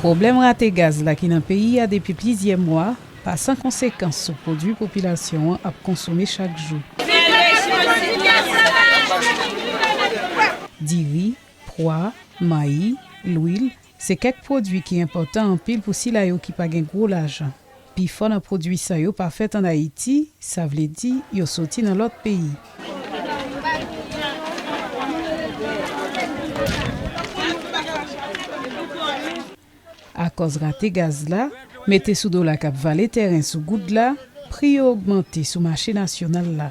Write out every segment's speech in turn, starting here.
Pwoblèm rate gaz la ki nan peyi a depi plizyè mwa pa san konsekans sou pwodui popilasyon an ap konsome chak jou. Diri, pwa, mayi, lwil, Se kèk pwodui ki enpòtan anpil pou sila yo ki pa gen gwo lajan. Pifò nan pwodui sa yo pa fèt an Ayiti, sa vle di yo soti nan lòt peyi. Akòz rate gaz la, mete sou dola k ap vale tèren sou goud la, pri yo ogmante sou mache nasyonal la.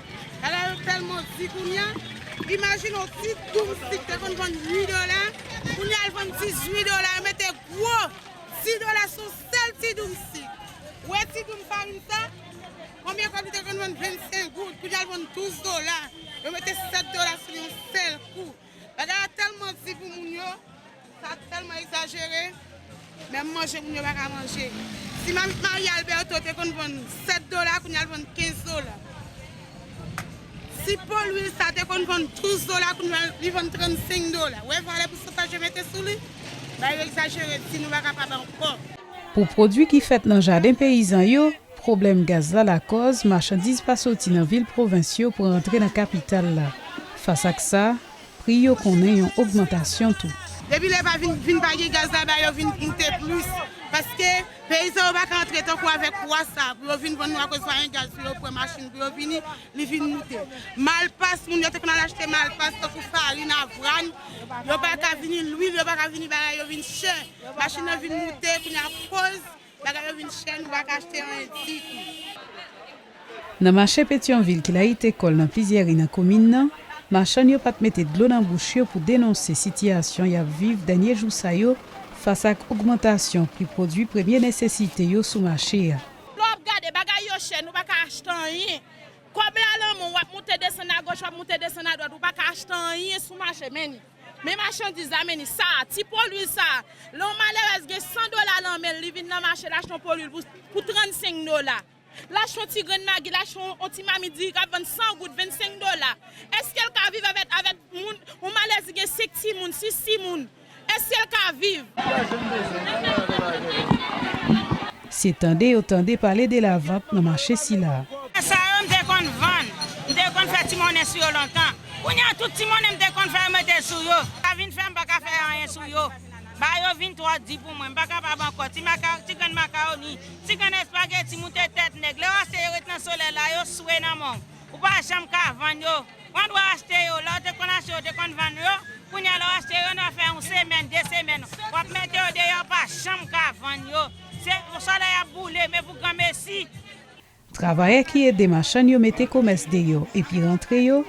Ala yo tèlman di kounya, imajine yon ti doumstik te konn vann 8 dola, kounya l vann 18 dola, yo mete gwo 10 dola sou yon sèl ti doumstik. Ou wè ti doum farin sa, konbyen kòb li te konn vann 25 goud, kounya l vann 12 dola, yo mete 7 dola sou li yon sèl kou. Bagay la tèlman di pou moun yo, sa tèlman egzajere, menm manje moun yo pa ka manje. Ti mamit Maria Alberto te konn vann 7 dola kounye a l vann 15 dola. Ti po lwil sa te konn vann 12 dola kounye a li vann 35 dola. Ou wè valè pousantaj yo mete sou li? Bagay yo egzajere di nou pa kapab ankò. Pou pwodwi ki fèt nan jaden peyizan yo, Pwoblèm gaz la lakòz machandiz pa soti nan vil pwovens yo pou rantre nan kapital la. Fas ak sa, pri yo konnen yon ogmantasyon tou. Depi lè pa vin vin pa gen gaz la ba yo vin moute plis paske peyi sa yo pa ka antre tankou avèk pwa sa pou yo vin vann nou akoz pa gen gaz pou yo pran machin pou yo vini li vin moute. Malpas moun yo te konn al achte malpas tankou farin, avran yo pa ka vini lwil yo pa ka vini bagay yo vin chè machin nan vin moute kounye a koz Bagay yo vin chè nou pa ka achte anyen ditou. Nan mache Petyonvil ki layite kò l nan plizyè ri nan komin nan, machann yo pa t mete dlo nan bouch yo pou denonse sitiyasyon y ap viv dènye jou sa yo fas ak ogmantasyon pri pwodui premye nesesite yo sou mache a. Lè w ap gade, bagay yo chè nou pa ka achte anyen. Kòb la lanmou, w ap moute desann agoch, w ap moute desann adwat, ou pa ka achte anyen sou mache, men ni. Men machandiz la menni sa a, ti po lwil sa a. Lè yon malerèz gen 100 dola lan men l, li vin lan mache l achte yon po lwil pou 35 dola. L achte yon ti grenn magi, l achte yon ti mamit diri k ap vann 100 goud, 25 dola. Eske l ka viv avèk moun, yon malèrèz ki gen 5 timoun, 6 timoun? Eske l ka viv? Se tande yo tande pale de lavant nan mache sila a. Tè sa yo m te konn vann. M te konn fè ti monnen sou yo lontan. Kounye a tout ti monnen m te konn fè yo mete sou yo. Sa vin fè m pa ka fè anyen sou yo. Ba yo vin twò di pou mwen. M pa kapab ankò. Ti maka, ti grenn makawoni, ti grenn espageti moute tèt nèg. Lè w aseye ret nan solèy la, yo swe nan men w. Ou pa janm ka vann yo. Pran dwa achte yo, lè ou te konn achte yo, ou te konn vann yo, kounya lè ou achte yo, nan afè yon semèn, 2 semèn, wap mete yo deyò, ou pa janm ka vann yo. Se yon sòlèy ap boule, men pou granmesi. Travayè ki ede machann yo mete komès deyò epi rantre yo,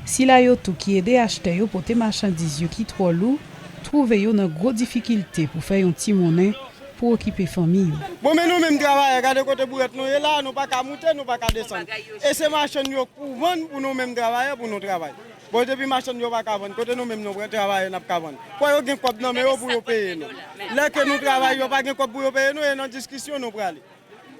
sila yo tou ki ede achtè yo pote machandiz yo ki twò lou, twouve yo nan gwo difikilte pou fè yon ti monnen pou okipe fanmi yo. Bon men nou menm travayè gade kote bourèt nou ye la a nou pa ka moute nou pa ka desann e se machann yo pou vann pou nou menm travayè pou nou travay bon depi machann yo pa ka vann kote nou menm nou menm travayè n ap ka vann fò yo gen kòb nan men yo pou yo peye nou lè ke nou travay yo pa gen kòb pou yo peye nou e nan diskisyon nou prale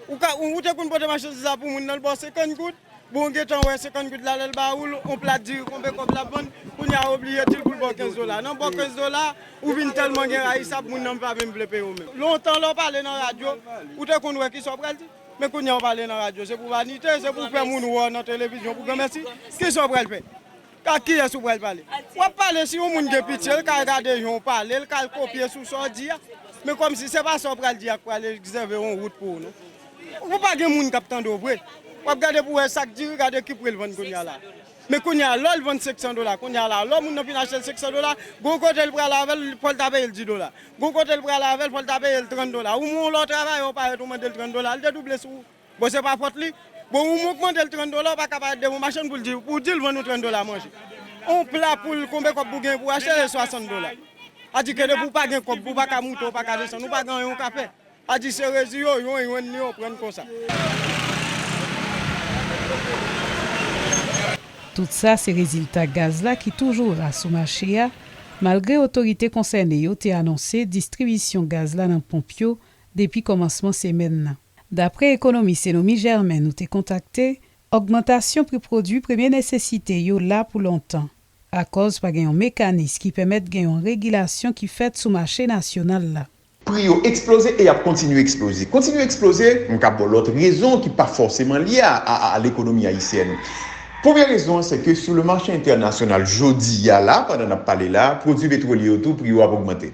ou te konn pote machandiz la pou moun nan l ba w 50 goud. Bon ou gentan wè 50 goud la lèl ba oul on plat diri konbe kòb lap vann kounya ou oblije dil poul baw 15 dola nan baw 15 dola ou vin tèlman gen rayisab moun nan pa menm vle peyew menm lontan lèw pale nan radyo ou te konn wè kisa ou pral di men kounya ou pale nan radyo se pou vanite se pou fè moun wèw nan televizyon pou granmèsi kisa ou pral fè. Ak kiyès ou pral pale? W ap pale si yon moun gen pitye, l ka al gade jan w pale, l ka al kopye sou sa w di a. Men kòmsi se pa sa w pral di a k pral egzève yon wout pou ou non. Ou pa gen moun k ap tande w vre. W ap gade pou w wè sa k diri, gade ki pri l vann kounye a la. Men kounye a, lò l vann senksan dola kounye a la, lò moun nan fin achte l senksan dola, gon kote l prale avè l, fò l ta peye l di dola. Gon kote l prale avè l, fò l ta peye l tran dola. Ou men yon lè w travayè, w parèt ou mande l tran dola, l dedouble sou ou. Bon se pa fòt li. Bon ou ogmandel 30 dola ou paka pa de bon machann poul diw pou dil vann ou 30 dola manje. On pla poul konbe kòb pou gen pou achte se 60 dola. A di ke depi ou pa gen kòb pou paka moute ou paka desann ou pa gen anyen ou ka fè. A di se rezi yo yon yon ni yon prann konsa. Tout sa se rezilta gaz la ki toujou ra sou mache a malgre otorite konsène yo te anonse distribisyon gaz la nan ponp yo depi kòmansman semèn nan. Dapre ekonomis Enomy Germain nou te kontakte, ògmantasyon pri pwodui premye nesesite yo la pou lontan, akòz pa gen yon mekanis ki pèmèt gen yon regilasyon ki fèt sou mache nasyonal la. Pri yo eksploze e y ap kontinye eksploze. Kontinye eksploze, m ka ba w lòt rezon ki pa fòseman lye a a lekonomi ayisyèn. Premye rezon an se ke sou le mache entènasyonal jodi a la, pandan n ap pale la, pwodui petwolye yo tou pri yo ap ogmante.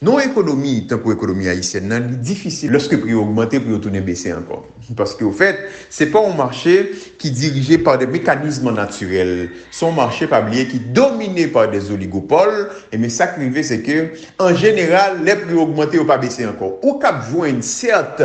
Nan yon ekonomi tankou ekonomi ayisyèn nan, li difisil lòske pri yo ogmante pou yo tounen bese ankò. Paske ofèt, se pa yon mache ki dirije pa de mekanism natirèl, se yon mache, pa bliye, ki domine pa de zoligopòl, enben sa k rive se ke, an jeneral, lè pri yo ogmante, yo pa bese ankò. Ou kab jwenn, sèt,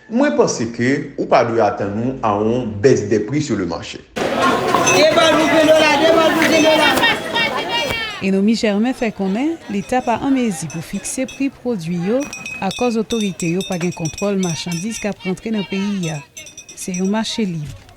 Mwen panse ke ou pa dwe atann ou a on baisse des prix sur le marché. Enomy Germain fè konnen Leta pa an mezi pou fikse pri pwodui yo akòz otorite yo pa gen kontwòl machandiz k ap rantre nan peyi a. Se yon mache lib.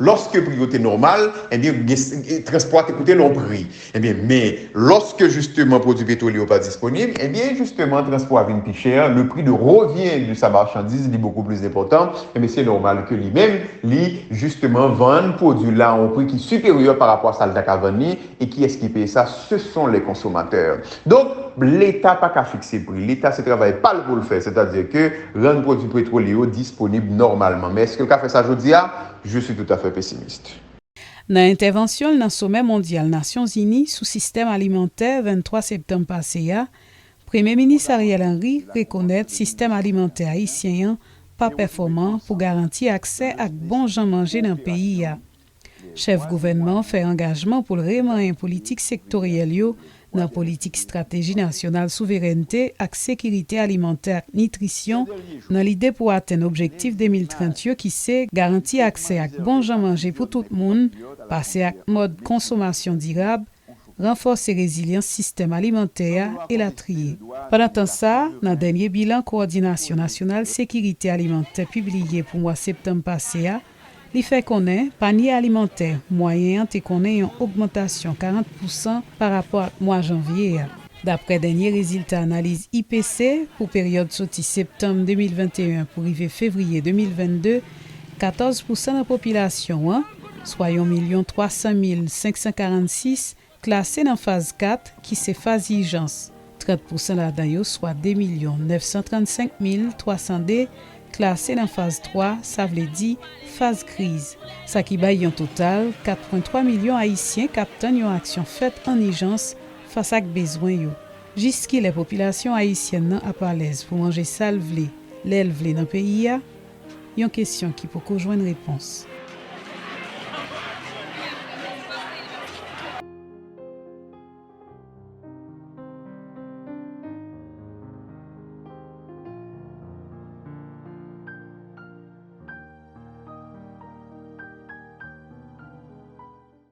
Lòske pri yo te nòmal, ebyen transpò a te koute l on pri. Ebyen men, lòske jisteman pwodui petwolye yo pa disponib, ebyen jisteman transpò a vin pi chè, le prix de revient de sa marchandise li bokou plis enpòtan, ebyen se nòmal ke li menm li jisteman vann pwodui l la a on pri ki siperyè parapò a sa l ta ka vann li, E kiyès ki peye sa? Se son les consommateurs. Donk, leta pa ka fikse pri. Leta se travay pa l pou l fè, sètadi ke rann pwodui petwolye yo disponib nòmalman. Men èske l ka fè sa jodi a? Je suis tout à fait pessimiste. Nan entèvansyon l nan Somè Mondyal Nasyonzini sou Sistèm Alimantè 23 septanm pase a, Premye Minis Ariel Henry rekonèt sistèm alimantè ayisyen an pa pèfòman pou garanti aksè ak bon jan manje nan peyi a. Chèf gouvènman an fè angajman pou l remanyen politik sektoryèl yo nan politik estrateji nasyonal souverènte ak sekirite alimantè ak nitrisyon nan lide pou atenn objektif 2030 yo ki se garanti aksè ak bon jan manje pou tout moun, pase ak mòd konsomasyon dirab, ranfòse rezilyans sistèm alimantè a, elatriye. Pandan tan sa, nan dènye bilan Kowòdinasyon nasyonal sekirite alimantè pibliye pou mwa septanm pase a, Li fè konnen panye alimantè mwayen an te konnen yon ogmantasyon 40 pousan pa rapò ak mwa janvye a. Daprè dènye rezilta analiz IPC pou peryòd soti septanm 2021 pou rive fevriye 2022, 14 pousan nan popilasyon an, swa yon milyon 300 mil 546, Klase nan Faz 4, ki se faz ijans, 30 pousan ladan yo, swa 2 milyon 935 mil 302, klase nan Faz 3, sa vle di Faz kriz, sa ki bay yon total 4,3 milyon Ayisyen k ap tann yon aksyon fèt an ijans fas ak bezwen yo. Jiskilè popilasyon ayisyèn nan ap alèz pou manje sa l vle, lè l vle nan peyi a? Yon kesyon ki poko jwenn repons.